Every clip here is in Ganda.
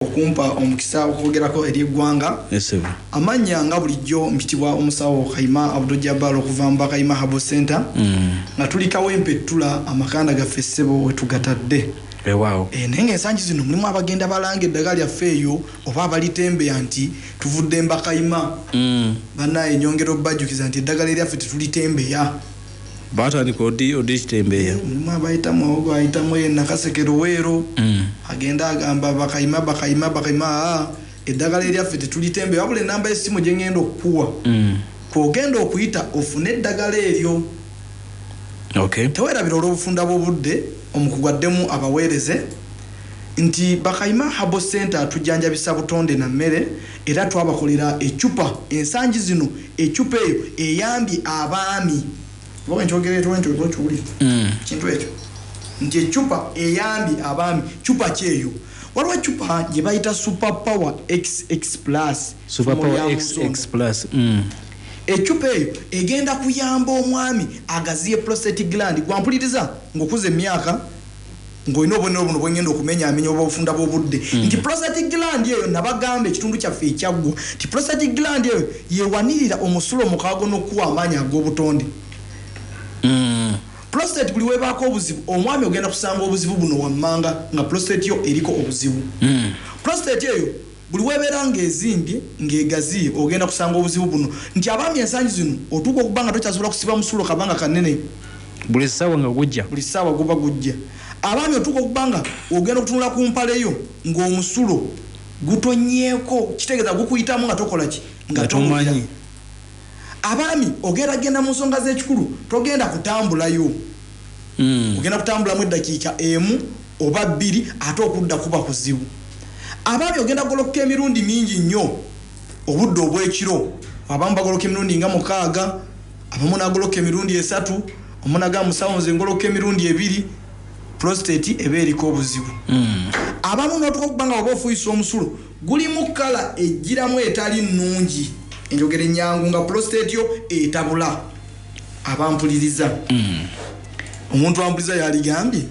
okumpa omukisa okwogerako eri eggwanga amannya nga bulijjo mpitibwa omusawo kaima abdujabal okuva mu bakaima habo center mm. nga tulikawo empettula amakanda gaffe ssebo wetugatadde weewaawo e, naye ngaensangi zino mulimu abagenda balanga eddagala lyaffe eyo oba abalitembeya nti tuvudde mbakayima mm. banaye nyongera obajjukiza nti eddagala eryaffe tetulitembeya batandika odi odi kitembeya mulimu abayitamu awo bayitamu eyo nakaseke luweero mm. agenda agamba bakayima bakayima bakayima aa eddagala eryaffe tetulitembe wabula enamba yesimu gyengenda okukuwa mm. kwogenda okuyita ofune eddagala eryo okay. tewerabira olwobufunda bwobudde omukugu addemu abaweereze nti bakayima habo center atujjanjabisa butonde na mmere Era twabakolera eccupa, ensangi zino eccupa eyo eyambye abaami, oba bwe nkyogera etwo ntyo oba ky'oli, ekintu ekyo, nti eccupa eyambye abaami, ccupa ki eyo? Waliwo eccupa gye bayita Super Power xx Plus, Super effumu lya Power mu xx nsonda. Plus, mm. Eccupa eyo egenda kuyamba omwami agaziye prostate gland. Ggwe ampuliriza ng'okuze emyaka. ng'olina obubonero buno bwengenda okumenyaamenya obw'obufunda bw'obudde mm. nti prostate gland eyo nabagamba ekitundu kyaffe ekyaggwa nti prostate gland eyo yewanirira omusulo omukaago n'okukuwa amaanyi ag'obutonde mm. prostate buli webaako obuzibu omwami ogenda kusanga obuzibu buno wammanga nga prostate yo eriko obuzibu mm. prostate eyo Buli w'ebeera ng'ezimbye, ng'egaziye ogenda kusanga obuzibu buno nti abaami ensangi zino otuuka okuba nga tokyasobola kusiba musulo kabanga kanene. Buli ssaawa nga gujja. Buli ssaawa guba gujja. Abaami otuuka okuba nga ogenda okutunula ku mpale yo ng'omusulo gutonnyeeko kitegeeza gukuyitamu nga tokola ki? Nga tomanyi. Abaami ogenda genda mu nsonga z'ekikulu togenda kutambulayo. Ogenda kutambulamu eddakiika emu oba bbiri ate okudda kuba kuzibu. Abaami ogenda kugolokoka emirundi mingi nnyo obudde obw'ekiro. Abamu bagolokoka emirundi nga mukaaga, abamu n'agolokoka emirundi esatu. Omu n'agamba, Musawo nze ngolokoka emirundi ebiri, pulositeeti eba eriko obuzibu. Abamu n'otuuka okuba nga bw'oba ofuuyisa omusulo, Gulimu kkala ejjiramu etali nnungi, enjogera ennyangu nga pulositeeti yo etabula abampuliriza. Omuntu ampuliriza yaligambye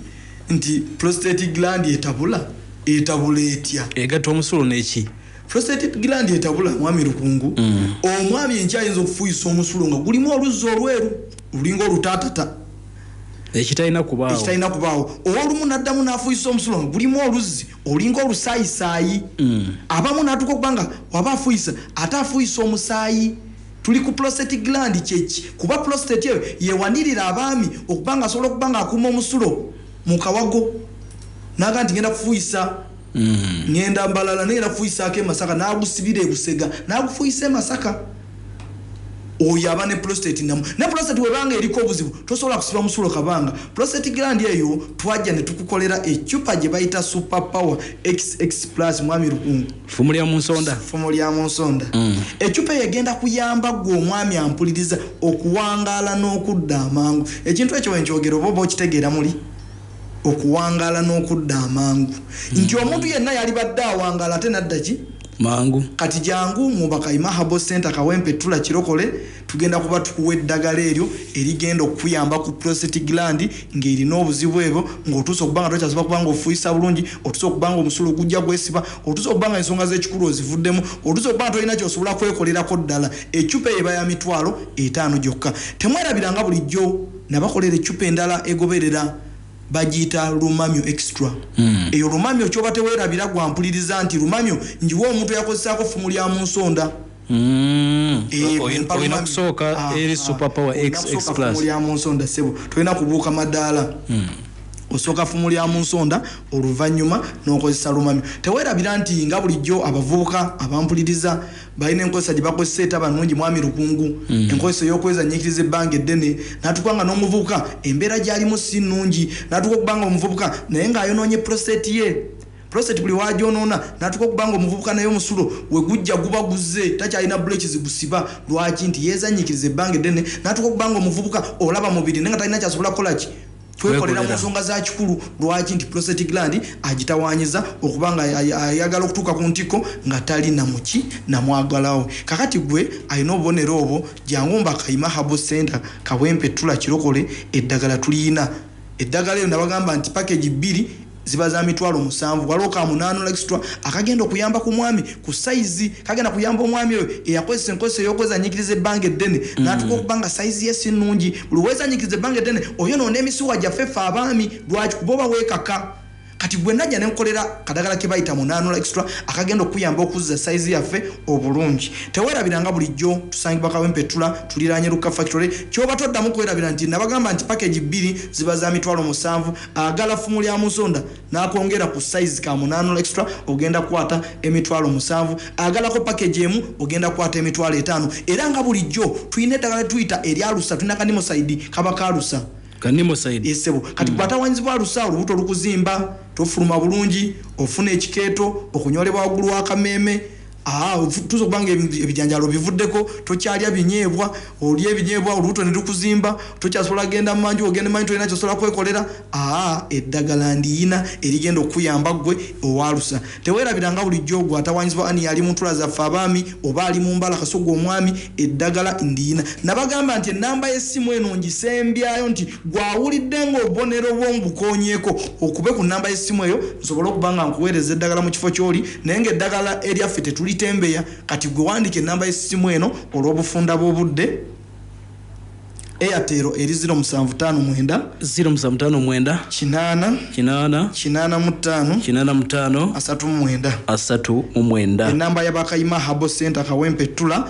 nti pulositeeti gilandi etabula? Etabula etya? Egatta omusulo ne ki? Pulositeeti gilandi etabula, Mwami Lukungu, omwami enkya ayinza okufuuyisa omusulo nga gulimu oluzzi olweru olulinga olutaatata, Ekitalina kubaawo. ekitalina kubaawo, ow'olumu n'addamu n'afuuyisa omusulo nga gulimu oluzzi olinga olusaayisayi mm. abamu natuka okuba nga waba afuyisa ate afuyisa omusaayi tuli ku prostate gland kyeki kuba prostate eyo yewanirira abaami okuba nga asobola okuba nga akuuma omusulo mu kawago naga nti ngenda kufuyisa mm. ngenda mbalala nengenda kufuyisaako emasaka nagusibira ebusega nagufuyisa emasaka oyo aba ne prostate namu ne prostate webanga eriko obuzibu tosobola kusiba musulo kabanga prostate gland eyo twajja ne tukukolera ecupa gye bayita super power xx plus mwami lukungu fumu lya munsonda fumu lya munsonda mm. ecupa eyo egenda kuyamba gwe omwami ampuliriza okuwangaala n'okudda amangu ekintu ekyo wenkyogera oba oba okitegeera muli okuwangaala n'okudda amangu mm. nti omuntu yenna yalibadde awangaala ate naddaki mangu. Kati jangu mu Bakayima Herbal Centre Kawempe Ttula Kirokole tugenda kuba tukuwa eddagala eryo erigenda okukuyamba ku prostate gland ng'erina obuzibu ebwo ng'otuuse okuba nga tokyasobola kuba ng'ofuuyisa bulungi, otuuse okuba ng'omusulo gujja gwesiba, otuuse okuba nga ensonga z'ekikulu ozivuddemu, otuuse okuba nga tolina ky'osobola kwekolerako ddala. Eccupa eyo eba ya mitwalo etaano gyokka. Temwerabira nga bulijjo na bakolera eccupa endala egoberera. bagiyita lumamyo extra mm. eyo lumamyo kyoba tewerabira gwampuliriza nti lumamyo njiwa omuntu yakozesaako ffumu lya mu nsonda mm. eh, olina okusooka ah, ah. eri superpower lya mu nsonda sebo tolina kubuuka madaala mm. osooka ffumu lya mu nsonda oluvannyuma n'okozesa lumamyo tewerabira nti nga bulijjo abavubuka abampuliriza balina enkozesa gye bakozesa etaba nungi mwami lukungu mm. enkozesa eyokwezanyikiriza ebbanga eddene natuka nga n'omuvubuka embeera gyalimu si nungi natuka okuba nga omuvubuka naye ng'ayonoonye prostate ye prostate buli wagyonoona natuka okuba nga omuvubuka naye omusulo wegujja guba guze takyalina buleki zigusiba lwaki nti yezanyikiriza ebbanga eddene natuka okuba nga omuvubuka olaba mubiri naye nga talina kyasobola kukolaki twekolera mu nsonga za kikulu lwaki nti prostate gland agitawanyiza okuba nga ayagala okutuuka ku ntikko nga tali namuki namwagalawo kakati gwe alina obubonero obwo jangu mba kayima habo center kawempe tula kirokole eddagala tuliyina eddagala eyo nabagamba nti package bbiri Ziba za mitwalo musanvu. Waliwo ka munaanola extra akagenda okuyamba ku mwami ku sayizi. Kagenda kuyamba omwami oyo eyakozesa enkozesa ey'okwezannyikiriza ebbanga eddene mm. n'atuuka okuba nga sayizi ye si nnungi. Buli weezannyikiriza ebbanga eddene oyonoona emisuwa gyaffe ffe abaami. Lwaki? Kuba oba weekaka. Kati gwe najja ne nkolera kadagala ke bayita munaanola extra akagenda okuyamba okuzza sayizi yaffe obulungi. Teweerabira nga bulijjo tusangibwa Kawempeettula tuliraanye Lukka Factory. Ky'oba toddamu kwerabira nti nabagamba nti pakegi bbiri ziba za mitwalo musanvu. Agala ffumu lya musonda n'akwongera ku sayizi ka munaanula extra ogenda kukwata emitwalo musanvu. Agalako pakegi emu ogenda kukwata emitwalo etaano. Era nga bulijjo tulina eddagala lye tuyita erya alusa, tulina ka Nimocide kaba ka alusa. Ka Nimocide. Yee ssebo. Kati ggwe atawaanyizibwa alusa, olubuto lukuzimba, tofuluma bulungi, ofuna ekikeeto, okunyoolebwa waggulu w'akameeme, Haa otuuse okuba nga ebijanjaalo obivuddeko, tokyalya binyeebwa, olya ebinyeebwa olubuto ne lukuzimba, tokyasobola genda mu manju, bw'ogenda mu manju tolina ky'osobola kwekolera, haa eddagala ndiyina erigenda okukuyamba ggwe owa alusa. Teweerabira nga bulijjo ogwo atawaanyizibwa ani y'ali mu ntula zaffe abaami oba ali mu mbala kasita ogwo omwami eddagala ndiyina. Nabagamba nti ennamba y'essimu eno ngisembyayo nti Gwe awulidde nga obubonero bwo mbukoonyeeko, okube ku nnamba y'essimu eyo nsobole okuba nga nkuweereza eddagala mu kifo ky'oli naye ng'eddagala eryaffe tetulitembeya. Kati gwe wandiika ennamba y'essimu eno olw'obufunda bw'obudde, Airtel eri ziro musanvu ttaano mwenda, ziro musanvu ttaano mwenda, kinaana, kinaana, kinaana mu ttaano, kinaana mu ttaano, asatu mu mwenda, asatu mu mwenda. Ennamba ya Bakayima Herbal Centre Kawempe Ttula.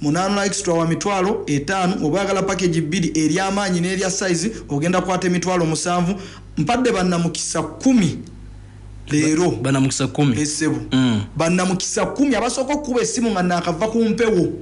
Munana extra wa mitwalo etaano oba oyagala package bbiri erya maanyi n'erya size ogenda kwata emitwalo musanvu mpadde bannamukisa kkumi leero bannamukisa kkumi eh, ssebo mm. bannamukisa kkumi abasooka okukuba essimu nga naakava ku mpewo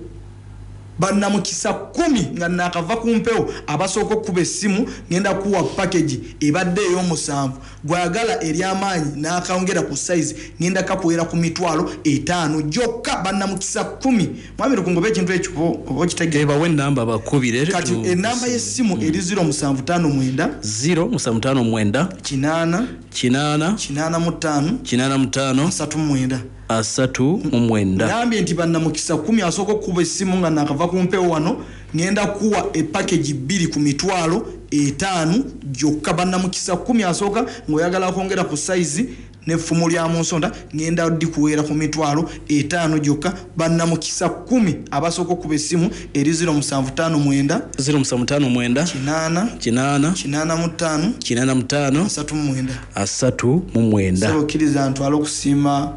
bannamukisa kkumi nga naakava ku mpewo abasooka okukuba essimu ngenda kuwa package ebadde ey'omusanvu Gwagala eryamaanyi nakayongera ku size ngenda kakuwera ku mitwalo etaano jokka banamukisa kumi mwami lukungu oba ekintu ekyo oba okitegera. Eeh bawe enamba bakubire. Kati enamba ye simu mm. eri zero musanvu tano mwenda. Zero musanvu tano mwenda. Kinaana. Kinaana. Kinaana mu tano. Kinaana mu tano. Asatu mwenda. Asatu mu mwenda. Nambye nti banamukisa kumi asoko kuba esimu nga nakava kumpewo wano. Ngenda kuwa e package bbiri ku mitwalo etaanu gyokka banamukisa kkumi asooka nga oyagala akwongera ku size ne ffumu lya munsonda ngenda dikuweera ku mitwalo etaano gyokka banamukisa kkumi abasooka okukuba essimu eri ziro musanvu ttaano mwenda ziro musanvu ttaano mwenda kinaana kinaana kinaana mu ttaano kinaana mu ttaano asatu mu mwenda asatu mu mwenda sebo kkiriza ntwala okusiima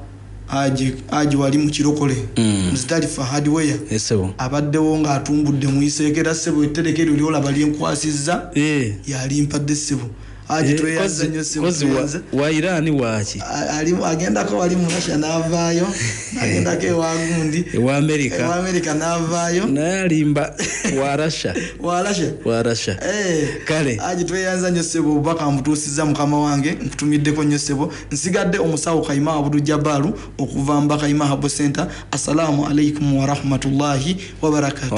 Aje, aje wali mu kirokole mm. mzitalifa hardware yes, abaddewo ng'atumbudde muyiseeko era ssebo ettereka eryo lyolaba lyenkwasizza yeah. yalimpadde ssebo aje eh, tweyaza nnyo ssebowairaani waaki agendako wali mu russia n'avaayo agendako ewagundi ewamerika ewamerika n'avaayo naye alimba wa russia wa russia wa russia eh, kale aje tweyaza nnyo ssebo obubaka mbutuusizza mukama wange nkutumiddeko nnyo ssebo Nsigadde omusawo Kayima Abdu Jabalu okuva Mbaka Imahabu Centre, Assalaamu Alaikum Warahmatullahi Wabarakatuh.